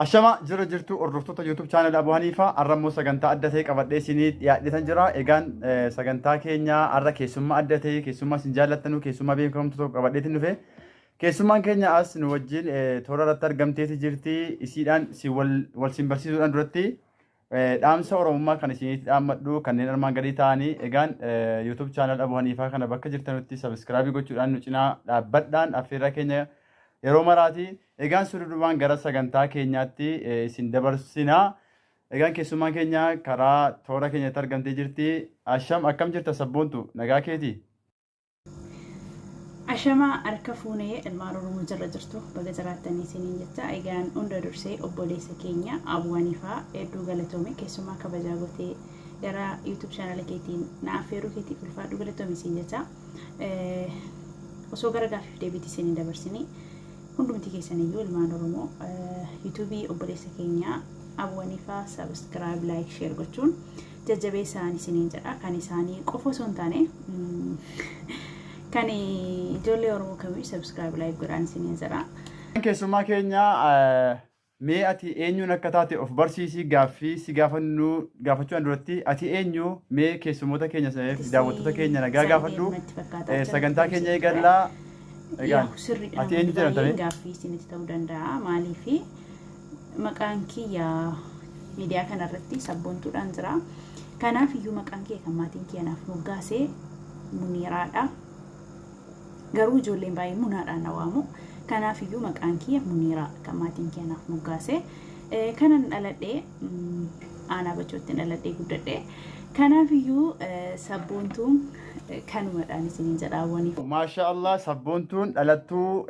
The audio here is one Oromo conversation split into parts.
Ashama jirra jirtu hordoftoota YouTube channel Abu Hanifa har'a immoo sagantaa adda ta'e qabadhee isinii dhiyaadhetan jira. Egaan eh, sagantaa keenya har'a keessummaa adda ta'e keessummaa isin jaallattanuu keessummaa beekamtu tokko qabadheetin dhufe. Keessummaan keenya as nu wajjin eh, toora irratti argamteeti jirti. Isiidhaan si wal wal sin barsiisuudhaan duratti Dhaamsa Oromummaa kan isinitti dhaammadhu kanneen armaan gadii ta'anii egaan YouTube channel Abu Haniifaa kana bakka jirtanutti subscribe gochuudhaan nu cinaa dhaabbadhaan affeerraa keenya yeroo maraati. Egaan sududumaan gara sagantaa keenyaatti isin dabarsina. Egaan keessummaan keenya karaa toora keenyatti argamtee jirti. Asham akkam jirta sabboontu nagaa keeti? Ashamaa harka fuune ilmaan Oromoo jirra jirtu baga jiraattanii isiniin jecha egaan hunda dursee obboleessa keenya Abuu Haniifaa hedduu galatoomi keessumaa kabajaa gootee gara YouTube channel keetiin na affeeruu keetiif ulfaadhu galatoomi isiin jecha osoo gara gaaffiif deebiitti isiniin dabarsinii hundumti keessan iyyuu ilmaan Oromoo YouTube obboleessa keenya Abuu Haniifaa subscribe like share gochuun jajjabeessaan isiniin jedha kan isaanii qofa osoo hin taane kan ijoollee oromoo kamii sabskiraayib laayik godhaan isiniin jedha. Keessummaa keenya mee ati eenyuun akka taate of barsiisii gaaffii si gaafannu gaafachuudhaan duratti ati eenyu mee keessummoota keenya fi daawwattoota keenya nagaa gaafadhu sagantaa keenya eegallaa. Egaa ati eenyu jedhamtame? Gaaffii isinitti ta'uu danda'a maaliifi maqaan kiyya miidiyaa kana irratti sabboontuudhaan jira. Kanaaf iyyuu maqaan kiyya kan maatiin kiyya naaf moggaase Muniiraadha. Garuu ijoolleen baay'ee Munaadhaan na waamu. Kanaaf iyyuu maqaan kiyya Muniiraa kan maatiin kiyya naaf moggaase. Kanan dhaladhee aanaa bachootti dhaladhee guddadhe. Kanaaf iyyuu sabboontuu kanumadhaan isiniin jedha hawwaniif. Maashaa Allah sabboontuun dhalattuu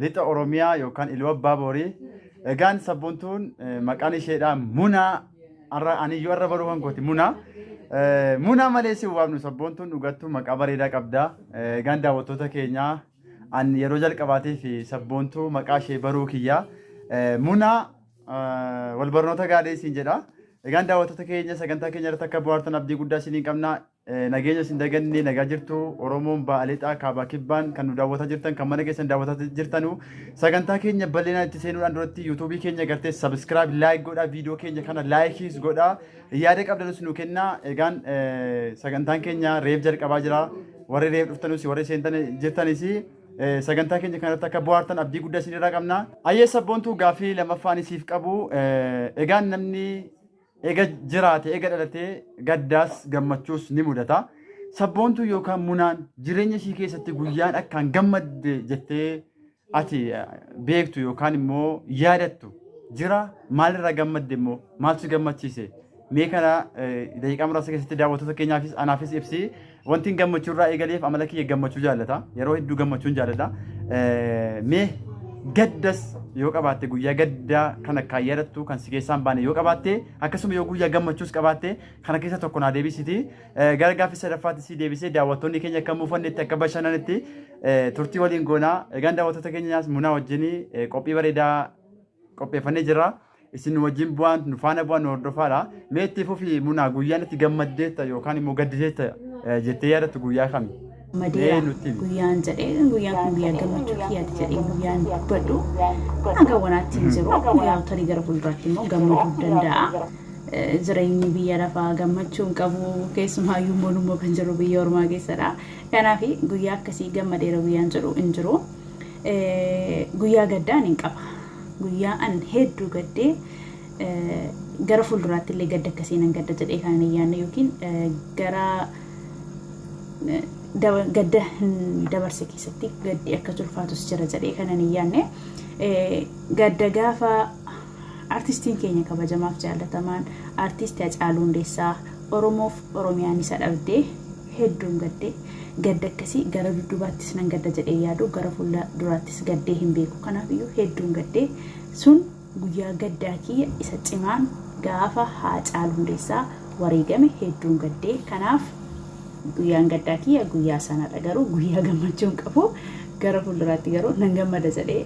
lixa Oromiyaa yookaan Iluu Abbaa Boorii. Egaan sabboontuun maqaan isheedhaa Munaa arra aniyyuu arra baruu kan kooti Munaa. Munaa malee si waamnu sabboontuun dhugattuu maqaa bareedaa qabda. Egaan daawwattoota keenyaa an yeroo jalqabaatiif sabboontuu maqaa ishee baruu kiyyaa. Munaa wal barnoota gaarii isin jedha. Egaan daawwattoota keenya sagantaa keenya irratti akka bu'aartan abdii guddaa isiniin qabna. Nageenya isin daganne nagaa jirtu Oromoon ba'a lixaa kaabaa kibbaan kan nu daawwataa jirtan kan mana keessan daawwataa jirtanu sagantaa keenya bal'inaan itti seenuudhaan duratti yuutuubii keenya gartee sabiskiraayib laayik godhaa viidiyoo keenya kana laayikiis godhaa yaada qabdanus nu kennaa egaan sagantaan keenya reef jalqabaa jira warri reef dhuftanus warri seentan jirtanis sagantaa keenya kanarratti akka bu'aartan abdii guddaa isinirraa qabna. Ayyee sabboontuu gaaffii lammaffaan isiif qabu egaan namni Eega jiraate, eega dhalatee gaddaas gammachuus ni mudata. Sabboontuun yookaan munaan jireenya ishii keessatti guyyaan akkaan gammadde jettee ati eh, beektu yookaan immoo yaadattu jira maalirraa gammadde immoo maal si gammachiise mee kana eh, daqiiqaa muraasa keessatti daawwattoota keenyaafis anaafis ibsi Wantiin gammachuu irraa eegaleef amala kiyya gammachuu jaallata. Yeroo hedduu gammachuun jaalladha. Eh, Mee gaddas yoo qabaatte guyyaa gaddaa kan akkaan yaadattu kan si keessaan baane yoo qabaatte akkasuma yoo guyyaa gammachuus qabaatte kana keessa tokko naa deebisiti. Eh, Gara gaaffii sadaffaatti si deebisee daawwattoonni keenya akka muufannetti akka bashannanitti eh, turtii waliin goonaa. Egaan daawwattoota keenyaas munaa wajjin eh, qophii bareedaa qopheeffannee jira. isin wajjin bu'aan nu faana bu'aan nu hordofaadha. Mee itti fufi munaa guyyaan itti gammaddeetta yookaan immoo gaddideetta eh, jettee yaadattu guyyaa kami? Mee Madeera nutti himi. guyyaan jedhee guyyaan kun guyyaa gammachuu kiyyaati jedhee guyyaan dubbadhu hanga wanaatti hin jiru guyyaa tarii gara fuulduraatti immoo gammaduu danda'a. Eh, Jireenyi biyya lafaa gammachuu hin qabu keessumaayyuu immoo kan jiru biyya ormaa keessadha. Kanaaf guyyaa akkasii gammadeera guyyaan jedhu hin jiru. Guyyaa gaddaa nin qaba. Guyyaa an hedduu gaddee gara fuulduraatti illee gadda akkasii nan gadda jedhee kan hin yaadne yookiin gara gadda hin dabarse keessatti gaddi akka ulfaatus jira jedhee kan hin yaadne gadda gaafa Artistiin keenya kabajamaaf jaallatamaan Artiist Hacaaluu Hundeessaa Oromoof Oromiyaan isa dhabde hedduun gadde. Gadda akkasii gara dudduubaattis nan gadda jedhee hin yaadu. Gara fuula duraattis gaddee hin beeku. Kanaaf iyyuu hedduun gadde. Sun guyyaa gaddaa kiyya isa cimaan gaafa Haacaaluu Hundeessaa wareegame hedduun gadde. Kanaaf guyyaan gaddaa kiyya guyyaa sanadha. Garuu guyyaa gammachuu hin qabu. Gara fuulduraatti garuu nan gammada jedhee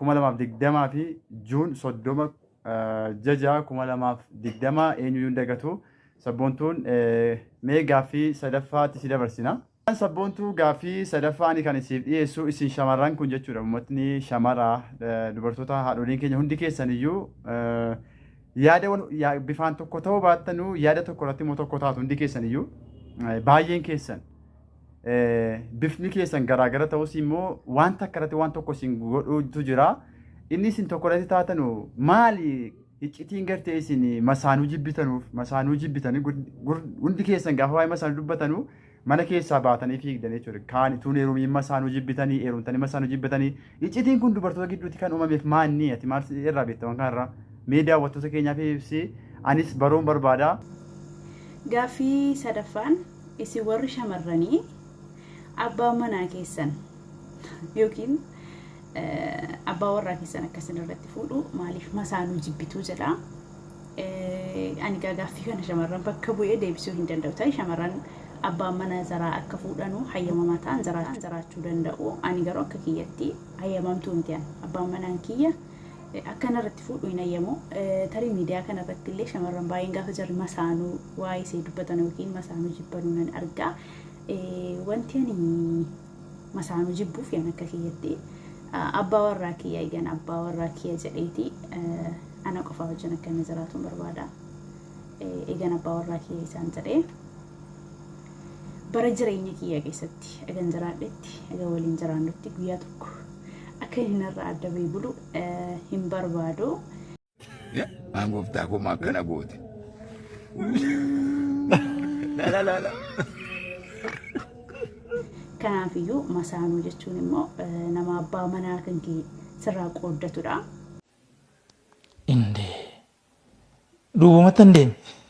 2020 fi June 30 Jja 6 2020 eenyuyyuu hin dagatu sabboontuun mee gaaffii sadaffaatti si dabarsina. Sabboontuu gaaffii sadaffaa ani kan siif dhiyeessu isin shamarran kun jechuudha ummatni shamara dubartoota haadholiin keenya hundi keessaniyyuu yaada wal bifaan tokko ta'uu baattanuu yaada tokko irratti immoo tokko taatu hundi keessaniyyuu baay'een keessan. bifni keessan garaagara ta'us immoo waan takka irratti waan tokko isin godhuutu jira. Inni isin tokko irratti taatanu maali iccitiin gartee isin masaanuu jibbitanuuf masaanuu jibbitanii hundi keessan gaafa waa'ee masaanuu dubbatanu mana keessaa baatanii fiigdan jechuudha. Kaan tuun heerumiin masaanuu jibbitanii heerumtanii masaanuu jibbitanii Iccitiin kun dubartoota gidduutti kan uumameef maanni ati maal irraa beekta waan kanarraa mee daawwattoota keenyaaf ibsi anis baruun barbaada. Gaaffii sadaffaan isin warri shamarranii abbaan manaa keessan yookiin abbaa warraa keessan akka isin irratti fuudhu maaliif masaanuu jibbituu jedha. ani gaagaaffii kana shamarran bakka bu'ee deebisuu hin danda'u ta'e shamarran abbaan mana zaraa akka fuudhanuu hayyamamaa ta'an zaraan zaraachuu danda'u ani garuu akka kiyyatti hayyamamtuu miti an abbaan manaan kiyya akka narratti fuudhu hin hayyamu tarii miidiyaa kana irratti illee shamarran baay'een gaafa jarri masaanuu waa'ee isee dubbatan yookiin masaanuu jibbanuu nan argaa wanti ani masaanu jibbuuf yan akka kiyyatti abbaa warraa kiyya yan abbaa warraa kiyya jedheeti ana qofaa wajjin akka inni jiraatuun barbaada egan abbaa warraa kiyya isaan jedhee bara jireenya kiyya keessatti egan jiraadhetti egan waliin jiraannutti guyyaa tokko akka inni narraa adda bahee bulu hin barbaadu. Maan gooftaa koo maa akkana goote. Lala lala. Kanaafiyyuu masaanuu jechuun immoo eh, nama abbaa manaa kan kee sirraa qooddatudha. Indee. Duubumatti hin deeme.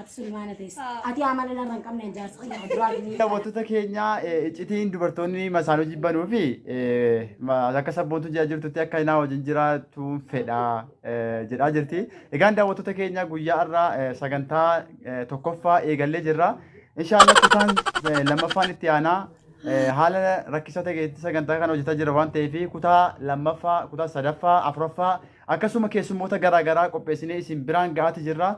Ati Sulimaana teessa. Ati amala narra hin qabne jaarsa kiyya duraa gini. Daawwattoota keenya eh, iccitiin dubartoonni masaanuu jibbanuu fi eh, ma- akka sabboontu jira jirtutti akka hinaa wajjin jiraatuun fedha eh, jedhaa jirti. Egaan daawwattoota keenya guyyaa irraa eh, sagantaa eh, tokkoffaa eegallee jirra. Inshaallah kutaan eh, lammaffaan itti aanaa eh, haala rakkisaa ta'e keessatti sagantaa kana hojjetaa jira waan ta'eef kutaa lammaffaa, kutaa sadaffaa, afuraffaa akkasuma keessummoota garaagaraa qopheessinee isin biraan ga'aati jirra.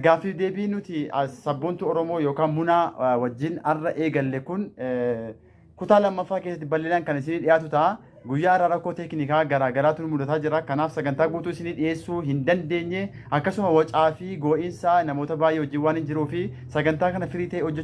Gaaffiif deebii nuti as sabboontuu Oromoo yookaan munaa eh, wajjin har'a eegalle kun eh, kutaa lammaffaa keessatti bal'inaan kan isinii dhiyaatu ta'a. Guyyaa har'a rakkoo teeknikaa garaa garaatu nu mudataa jira. Kanaaf sagantaa guutuu isinii dhiyeessuu hin dandeenye. Akkasuma wacaa fi goo'insa namoota baay'ee wajjin waan hin jiruu fi sagantaa kana firii ta'e hojjechuu